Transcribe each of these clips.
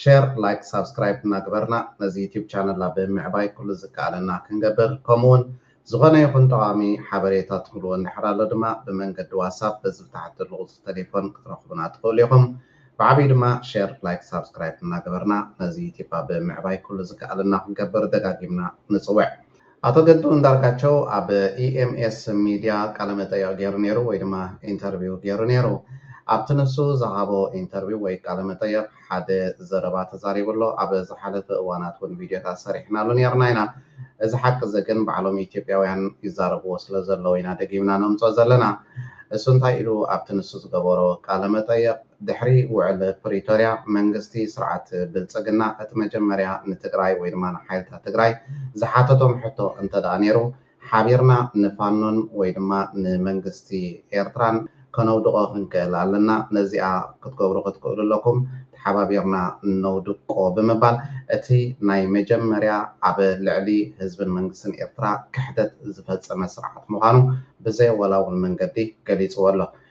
ሸር ላይክ ሳብስክራይብ እናገበርና ነዚ ዩቱብ ቻነል ኣብ ምዕባይ ኩሉ ዝከኣለና ክንገብር ከምኡ ውን ዝኾነ ይኹን ጠቓሚ ሓበሬታ ትህልዎ እንድሕር ኣሎ ድማ ብመንገዲ ዋሳፕ በዚ ብታሕቲ ዘሎ ቁፅሪ ተሌፎን ክትረኽቡና ትኽእሉ ኢኹም። ብዓብዩ ድማ ሸር ላይክ ሳብስክራይብ እናገበርና ነዚ ዩቱብ ኣብ ምዕባይ ኩሉ ዝከኣለና ክንገብር ደጋጊምና ንፅውዕ። ኣቶ ገዱ ኣንዳርጋቸው ኣብ EMS Media ቃለመጠይቕ ገይሩ ነይሩ ወይ ድማ ኢንተርቪው ገይሩ ነይሩ። ኣብቲ ንሱ ዝሃቦ ኢንተርቪው ወይ ቃለመጠይቕ ሓደ ዘረባ ተዛሪቡ ኣሎ። ኣብ ዝሓለፈ እዋናት እውን ቪድዮታት ሰሪሕናሉ ነይርና ኢና። እዚ ሓቂ እዚ ግን ባዕሎም ኢትዮጵያውያን ይዛረብዎ ስለ ዘለዉ ኢና ደጊምና ነምፅኦ ዘለና። እሱ እንታይ ኢሉ ኣብቲ ንሱ ዝገበሮ ቃለመጠይቕ? ድሕሪ ውዕል ፕሪቶርያ መንግስቲ ስርዓት ብልፅግና እቲ መጀመርያ ንትግራይ ወይ ድማ ንሓይልታት ትግራይ ዝሓተቶም ሕቶ እንተድኣ ነይሩ ሓቢርና ንፋኖን ወይ ድማ ንመንግስቲ ኤርትራን ከነውድቖ ክንክእል ኣለና ነዚኣ ክትገብሩ ክትክእሉ ኣለኩም ተሓባቢርና ነውድቆ ብምባል እቲ ናይ መጀመርያ ኣብ ልዕሊ ህዝብን መንግስትን ኤርትራ ክሕደት ዝፈፀመ ስርዓት ምዃኑ ብዘየወላውል መንገዲ ገሊፅዎ ኣሎ።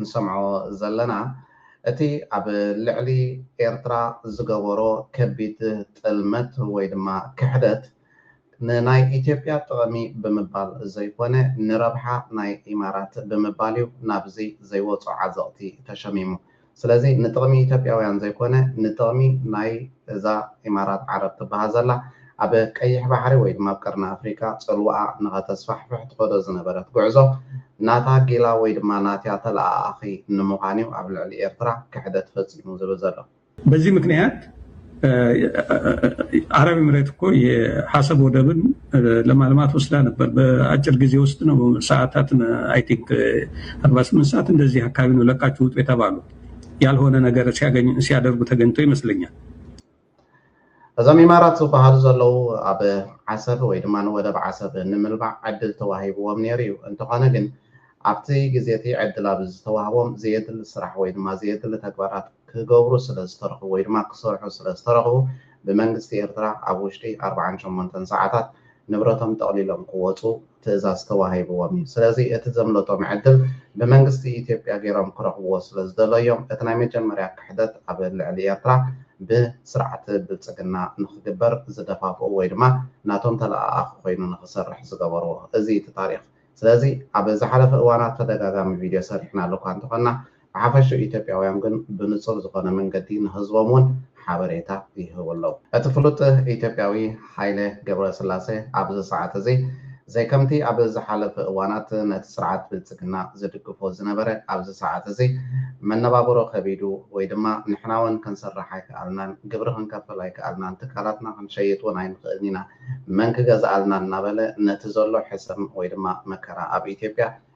ንሰምዖ ዘለና እቲ ኣብ ልዕሊ ኤርትራ ዝገበሮ ከቢድ ጥልመት ወይ ድማ ክሕደት ንናይ ኢትዮጵያ ጥቕሚ ብምባል ዘይኮነ ንረብሓ ናይ ኢማራት ብምባል እዩ ናብዚ ዘይወጾ ዓዘቕቲ ተሸሚሙ ስለዚ ንጥቕሚ ኢትዮጵያውያን ዘይኮነ ንጥቕሚ ናይ እዛ ኢማራት ዓረብ ትብሃል ዘላ ኣብ ቀይሕ ባሕሪ ወይ ድማ ኣብ ቀርኒ ኣፍሪቃ ጽልዋኣ ንኸተስፋሕፍሕ ትኸዶ ዝነበረት ጉዕዞ ናታ ጊላ ወይ ድማ ናቲያ ተለኣኣኺ ንምዃን'ዩ ኣብ ልዕሊ ኤርትራ ክሕደት ፈጺሙ ዝብል ዘሎ። በዚ ምክንያት ኣረብ ኢምሬት እኮ የኣሰብ ወደብን ለማልማ ትወስዳ ነበር በኣጭር ጊዜ ውስጥ ነው ሰዓታት አይ ቲንክ አርባ ስምንት ሰዓት እንደዚህ አካባቢ ነው ለቃችሁ ውጡ የተባሉት ያልሆነ ነገር ሲያገኙ ሲያደርጉ ተገኝቶ ይመስለኛል። እዞም ኢማራት ዝብሃሉ ዘለዉ ኣብ ዓሰብ ወይ ድማ ንወደብ ዓሰብ ንምልማዕ ዕድል ተዋሂብዎም ነይሩ እዩ። እንተኾነ ግን ኣብቲ ግዜ'ቲ ዕድል ኣብ ዝተዋህቦም ዘየድሊ ስራሕ ወይ ድማ ዘየድሊ ተግባራት ክገብሩ ስለ ዝተረኽቡ ወይ ድማ ክሰርሑ ስለ ዝተረኽቡ ብመንግስቲ ኤርትራ ኣብ ውሽጢ ኣርብዓን ሸሞንተን ሰዓታት ንብረቶም ጠቕሊሎም ክወጹ ትእዛዝ ተዋሂብዎም እዩ። ስለዚ እቲ ዘምለጦም ዕድል ብመንግስቲ ኢትዮጵያ ገይሮም ክረኽብዎ ስለ ዝደለዩ እዮም እቲ ናይ መጀመርያ ክሕደት ኣብ ልዕሊ ኤርትራ ብስርዓት ብልጽግና ንኽግበር ዝደፋፍኡ ወይ ድማ ናቶም ተለኣኣኺ ኮይኑ ንኽሰርሕ ዝገበርዎ። እዚ እቲ ታሪኽ። ስለዚ ኣብ ዝሓለፈ እዋናት ተደጋጋሚ ቪድዮ ሰሪሕናሉ እኳ እንተኾንና ብሓፈሽኡ ኢትዮጵያውያን ግን ብንጹር ዝኾነ መንገዲ ንህዝቦም እውን ሓበሬታ ይህቡ ኣለዉ። እቲ ፍሉጥ ኢትዮጵያዊ ሃይለ ገብረስላሰ ኣብዚ ሰዓት እዚ ዘይከምቲ ኣብ ዝሓለፈ እዋናት ነቲ ስርዓት ብልጽግና ዝድግፎ ዝነበረ ኣብዚ ሰዓት እዚ መነባብሮ ከቢዱ ወይ ድማ ንሕና እውን ክንሰርሕ ኣይከኣልናን ግብሪ ክንከፍል ኣይከኣልናን ትካላትና ክንሸይጥ እውን ኣይንኽእልን ኢና መን ክገዝኣልና እናበለ ነቲ ዘሎ ሕሰም ወይ ድማ መከራ ኣብ ኢትዮጵያ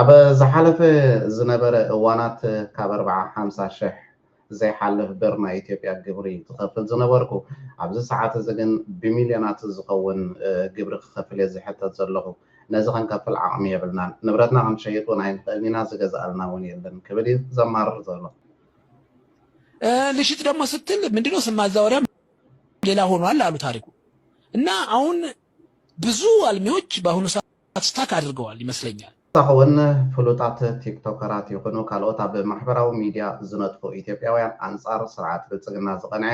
ኣብ ዝሓለፈ ዝነበረ እዋናት ካብ ኣርብዓ ሓምሳ ሽሕ ዘይሓልፍ ብር ናይ ኢትዮጵያ ግብሪ ዝኸፍል ዝነበርኩ ኣብዚ ሰዓት እዚ ግን ብሚልዮናት ዝኸውን ግብሪ ክኸፍል እየ ዝሕተት ዘለኹ ነዚ ክንከፍል ዓቕሚ የብልናን ንብረትና ክንሸይጥ እውን ኣይንኽእልን ኢና ዝገዝኣልና እውን የለን ክብል እዩ ዘማርር ዘሎ ልሽጥ ደግሞ ስትል ምንድነው ስም ማዛወሪያ ሌላ ሆኗል አሉ ታሪኩ እና አሁን ብዙ ኣልሚዎች በአሁኑ ሰዓት ስታክ ኣድርገዋል ይመስለኛል። ብተወሳኺ እውን ፍሉጣት ቲክቶከራት ይኹኑ ካልኦት ኣብ ማሕበራዊ ሚዲያ ዝነጥፉ ኢትዮጵያውያን ኣንፃር ስርዓት ብልፅግና ዝቐንዐ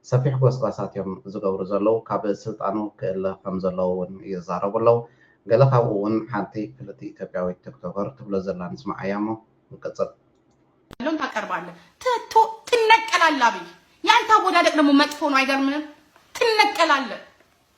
ሰፊሕ ጎስጓሳት እዮም ዝገብሩ ዘለዉ። ካብ ስልጣኑ ክእለ ከምዘለዎ እውን ይዛረቡ ኣለዉ። ገለ ካብኡ እውን ሓንቲ ፍልጥቲ ኢትዮጵያዊት ቲክቶከር ትብሎ ዘላ ንስምዓያ እሞ ንቅፅል። ያለውን ታቀርባለህ ትቶ ትነቀላለህ አብይ ያንተ አወዳደቅ ደግሞ መጥፎ ነው አይገርምህም ትነቀላለህ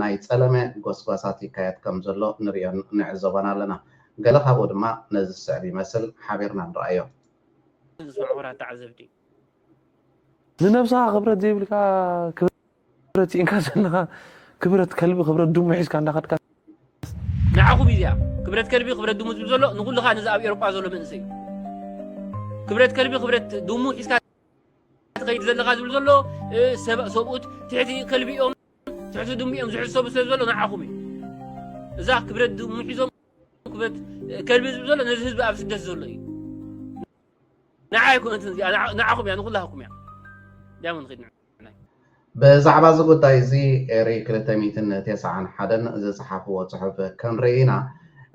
ናይ ጸለመ ጎስጓሳት ይካየድ ከም ዘሎ ንርእዮን ንዕዘቦን ኣለና። ገለ ካብኡ ድማ ነዚ ዝስዕብ ይመስል፣ ሓቢርና ንርኣዮ። ዝስዕቡና ተዓዘብቲ። ንነብስኻ ክብረት ዘይብልካ ክብረት ሲኢንካ ዘለኻ ክብረት ከልቢ ክብረት ድሙ ሒዝካ እንዳኸድካስ። ንዓኹም እዩ እዚኣ ክብረት ከልቢ ክብረት ድሙ ዝብል ዘሎ ንኹልኻ ነዚ ኣብ ኤሮጳ ዘሎ መንእሰይ እዩ። ክብረት ከልቢ ክብረት ድሙ ሒዝካ ትኸይድ ዘለኻ ዝብል ዘሎ ሰብኡት ትሕቲ ከልቢ እዮም። ትሕቲ ድሙ እዮም ዝሕሰቡ ስለ ዘሎ ንዓኹም እዩ እዛ ክብረት ድሙ ሒዞም ክብረት ከልቢ ዝብ ዘሎ ነዚ ህዝቢ ኣብ ስደት ዘሎ እዩ ንዓ ኣይኮነትን እዚኣ ንዓኹም እያ ንኩላህኩም እያ ዳሞ ንኽድ ብዛዕባ እዚ ጉዳይ እዚ ኤሪ 291 ዝፀሓፍዎ ፅሑፍ ክንርኢ ኢና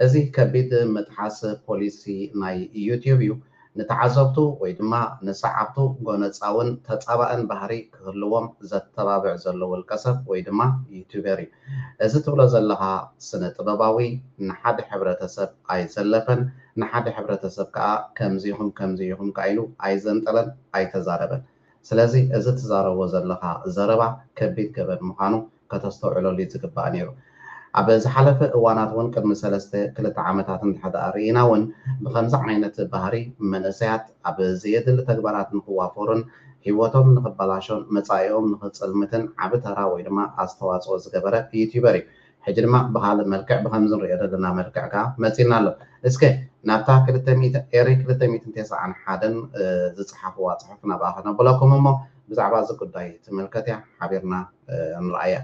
እዚ ከቢድ ምጥሓስ ፖሊሲ ናይ ዩትዩብ እዩ ንተዓዘብቱ ወይ ድማ ንሰዓብቱ ጎነጻውን ተጻባእን ባህሪ ክህልዎም ዘተባብዕ ዘሎ ውልቀሰብ ወይ ድማ ዩቱበር እዩ። እዚ ትብሎ ዘለኻ ስነ ጥበባዊ ንሓደ ሕብረተሰብ ኣይዘለፈን፣ ንሓደ ሕብረተሰብ ከኣ ከምዚ ኢኹም ከምዚ ኢኹም ከኣ ኢሉ ኣይዘንጠለን ኣይተዛረበን። ስለዚ እዚ ትዛረቦ ዘለኻ ዘረባ ከቢድ ገበን ምዃኑ ከተስተውዕለሉ እዩ ዝግባእ ነይሩ። ኣብ ዝሓለፈ እዋናት እውን ቅድሚ ሰለስተ ክልተ ዓመታት እንተሕደኣ ርኢና እውን ብኸምዚ ዓይነት ባህሪ መንእሰያት ኣብ ዘየድሊ ተግባራት ንክዋፈሩን ህይወቶም ንክበላሾን መጻኢኦም ንክጽልምትን ዓቢ ተራ ወይ ድማ ኣስተዋጽኦ ዝገበረ ዩትዩበር እዩ። ሕጂ ድማ ብኻልእ መልክዕ ብኸምዚ ንርእዮ ዘለና መልክዕ ከኣ መጺእና ኣሎ። እስከ ናብታ ክልተ ሚእቲ ኤሪ ክልተ ሚእትን ቴስዓን ሓደን ዝጸሓፍዋ ጽሑፍ ናብኣ ከነብለኩም እሞ ብዛዕባ እዚ ጉዳይ ትምልከት'ያ፣ ሓቢርና ንርኣያ።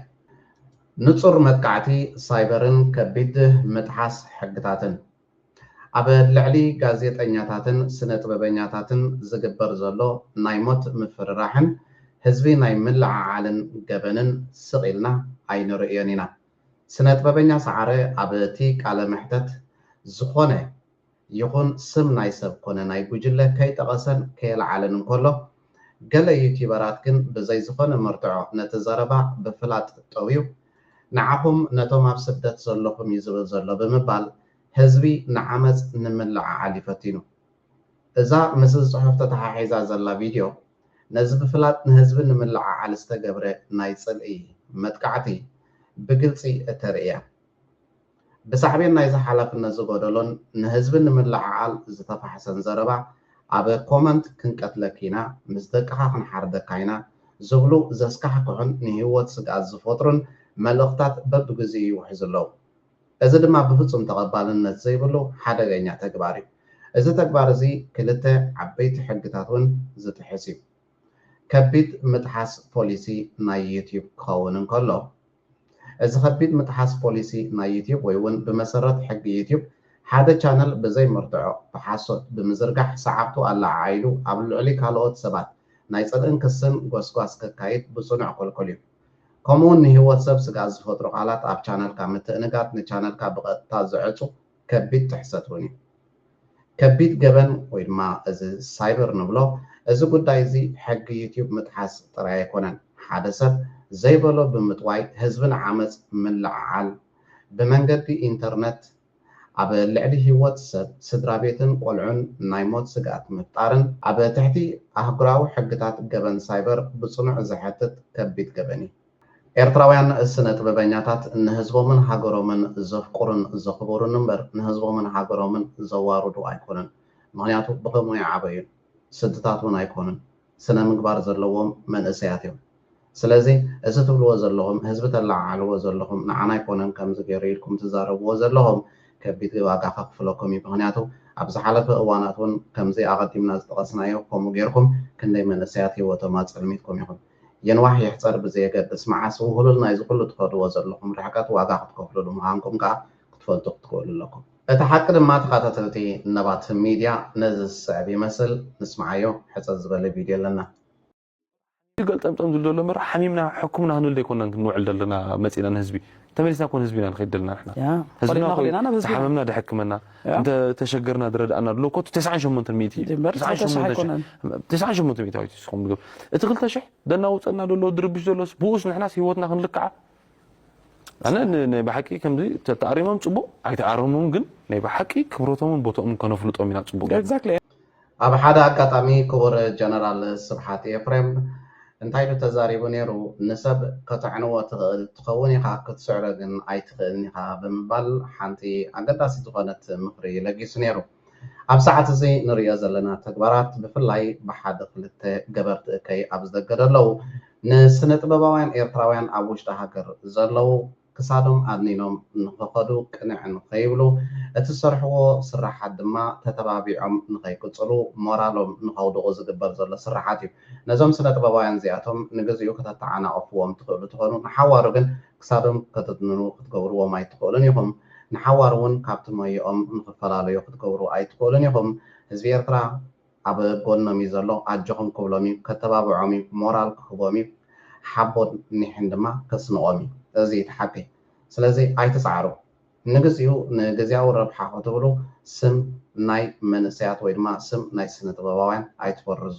ንጹር መጥቃዕቲ ሳይበርን ከቢድ ምጥሓስ ሕግታትን፣ ኣብ ልዕሊ ጋዜጠኛታትን ስነጥበበኛታትን ዝግበር ዘሎ ናይ ሞት ምፍርራሕን ህዝቢ ናይ ምልዕዓልን ገበንን ስቕ ኢልና ኣይንርእዮን ኢና። ስነጥበበኛ ሰዓረ ኣብ'ቲ ቃለ-መሕተት፣ ዝኾነ ይኹን ስም ናይ ሰብ ኮነ ናይ ጉጅለ ከይጠቐሰን ከየልዓለን እንከሎ፣ ገለ ዩቲበራት ግን ብዘይ ዝኾነ መርትዖ ነቲ ዘረባ ብፍላጥ ጠውዩ፣ ንዓኹም ነቶም ኣብ ስደት ዘለኹም እዩ ዝብል ዘሎ ብምባል ህዝቢ ንዓመጽ ንምልዕዓል እዩ ፈቲኑ። እዛ ምስዚ ጽሑፍ ተተሓሒዛ ዘላ ቪድዮ፣ ነዚ ብፍላጥ ንህዝቢ ንምልዕዓል ዝተገብረ ናይ ጽልኢ መጥቃዕቲ ብግልጺ እተርኢ እያ። ብሳዕቤን ናይዚ ሓላፍነት ዝጎደሎን ንህዝቢ ንምልዕዓል ዝተፋሕሰን ዘረባ ኣብ ኮመንት ክንቀትለኪ ኢና፣ ምስ ደቅኻ ክንሓርደካ ኢና ዝብሉ ዘስካሕክሑን ንህይወት ስግኣት ዝፈጥሩን መልእኽታት በብግዚኡ ይውሕዙ ኣለዉ። እዚ ድማ ብፍጹም ተቐባልነት ዘይብሉ ሓደገኛ ተግባር እዩ። እዚ ተግባር እዚ ክልተ ዓበይቲ ሕግታት እውን ዝጥሕስ እዩ። ከቢድ ምጥሓስ ፖሊሲ ናይ ዩትዩብ ክኸውን እንከሎ፣ እዚ ከቢድ ምጥሓስ ፖሊሲ ናይ ዩትዩብ ወይ ውን ብመሰረት ሕጊ ዩትዩብ ሓደ ቻነል ብዘይ መርትዖ ብሓሶት ብምዝርጋሕ ሰዓብቱ ኣለዓዒሉ ኣብ ልዕሊ ካልኦት ሰባት ናይ ጽልእን ክስን ጎስጓስ ከካይድ ብጽኑዕ ክልኩል እዩ። ከምኡውን ንህይወት ሰብ ስግኣት ዝፈጥሩ ቃላት ኣብ ቻነልካ ምትእንጋድ ንቻነልካ ብቐጥታ ዝዕጹ ከቢድ ጥሕሰት እውን እዩ። ከቢድ ገበን ወይ ድማ እዚ ሳይበር ንብሎ፣ እዚ ጉዳይ እዚ ሕጊ ዩትዩብ ምጥሓስ ጥራይ ኣይኮነን። ሓደ ሰብ ዘይበሎ ብምጥዋይ ህዝቢ ንዓመጽ ምልዕዓል ብመንገዲ ኢንተርነት፣ ኣብ ልዕሊ ህይወት ሰብ፣ ስድራቤትን ቆልዑን ናይ ሞት ስግኣት ምፍጣርን ኣብ ትሕቲ ኣህጉራዊ ሕግታት ገበን ሳይበር ብጽኑዕ ዘሕትት ከቢድ ገበን እዩ። ኤርትራውያን ስነ ጥበበኛታት ንህዝቦምን ሃገሮምን ዘፍቁሩን ዘኽቡሩን እምበር ንህዝቦምን ሃገሮምን ዘዋርዱ ኣይኮኑን። ምኽንያቱ ብኸምኡ ኣይዓበዩን። ስድታት ውን ኣይኮኑን። ስነ ምግባር ዘለዎም መንእሰያት እዮም። ስለዚ እዚ ትብልዎ ዘለኹም ህዝቢ ተለዓዕልዎ ዘለኹም ንዓና ኣይኮነን ከምዚ ገይሩ ኢልኩም ትዛረብዎ ዘለኹም ከቢድ ዋጋ ከኽፍለኩም እዩ። ምኽንያቱ ኣብ ዝሓለፈ እዋናት ውን ከምዚ ኣቐዲምና ዝጠቐስናዮ ከምኡ ገይርኩም ክንደይ መንእሰያት ሂወቶም ኣጸልሚትኩም ኢኹም። ይንዋሕ ይሕጸር ብዘየገድስ፣ መዓስ ውህሉል ናይዚ ኩሉ ትኸድዎ ዘለኹም ርሕቀት ዋጋ ክትከፍሉሉ ምኻንኩም ከኣ ክትፈልጡ ክትክእሉ ኣለኩም። እቲ ሓቂ ድማ ተኻታተልቲ ነባት ሚድያ ነዚ ዝስዕብ ይመስል፣ ንስምዓዮ፣ ሕጽር ዝበለ ቪድዮ ኣለና። እዚ ገልጠምጠም ዝብል ዘሎ እምበር ሓሚምና ሕክምና ክንብል ኣይኮናን ክንውዕል ዘለና መጺእና ንህዝቢ ተመሊስና እኮ ንህዝቢ ኢና ንኸይድ ደለና ንሕና ህዝብና እኮ እዩ ዝሓመምና ደሕክመና። እንተ ተሸገርና ዝረድኣና ኣሎ ኮቱ ተስዓን ሸሞንተን ሚእቲ እዩ ድምበር ተስዓን ተሰሓ ሸሞንተን ኣይኮነን ሽሕ- ተስዓን ሸሞንተ ሚእቲ ኣዊት ይስኹም ድግብ እቲ ክልተ ሽሕ ደናውፀና ዘሎ ድርብሽ ዘሎስ ብኡስ ንሕናስ ሂወትና ክንልክዓ ኣነ ን- ናይ ብሓቂ ከምዚ ተተኣሪሞም ፅቡቅ ኣይተኣረሙን ግን ናይ ብሓቂ ክብረቶምን ቦቶኦምን ከነፍልጦም ኢና ፅቡቅ ጌርና። ኤግዛክትሊ ኣብ ሓደ ኣጋጣሚ ክቡር ጀነራል ስብሓት ኤፍሬም እንታይ ኢሉ ተዛሪቡ ነይሩ፣ ንሰብ ከተዕንዎ ትኽእል ትኸውን ኢኻ፣ ክትስዕሮ ግን ኣይትኽእልን ኢኻ ብምባል ሓንቲ ኣገዳሲት ዝኾነት ምኽሪ ለጊሱ ነይሩ። ኣብ ሰዓት እዚ ንርእዮ ዘለና ተግባራት ብፍላይ ብሓደ ክልተ ገበርቲ እከይ ኣብ ዝደገ ደለዉ ንስነጥበባውያን ኤርትራውያን ኣብ ውሽጢ ሃገር ዘለዉ ክሳዶም ኣድኒኖም ንኽኸዱ ቅንዕ ንኸይብሉ፣ እቲ ዝሰርሕዎ ስርሓት ድማ ተተባቢዖም ንኸይቅጽሉ ሞራሎም ንኸውድቑ ዝግበር ዘሎ ስርሓት እዩ። ነዞም ስነ-ጥበባውያን እዚኣቶም ንግዚኡ ከተተዓናቕፍዎም ትኽእሉ ትኾኑ፣ ንሓዋሩ ግን ክሳዶም ከትድንኑ ክትገብርዎም ኣይትኽእሉን ኢኹም። ንሓዋሩ'ውን ካብቲ ሞይኦም ንኽፈላለዩ ክትገብሩ ኣይትኽእሉን ኢኹም። ህዝቢ ኤርትራ! ኣብ ጎኖም እዩ ዘሎ ኣጆኹም ክብሎም እዩ ከተባብዖም እዩ ሞራል ክህቦም እዩ ሓቦን ኒሕን ድማ ከስንቖም እዩ እዚ እዩ እቲ ሓቂ ስለዚ ኣይትጽዓሩ ንግዚኡ ንግዚያዊ ረብሓ ክትብሉ ስም ናይ መንእሰያት ወይ ድማ ስም ናይ ስነ ጥበባውያን ኣይትበርዙ።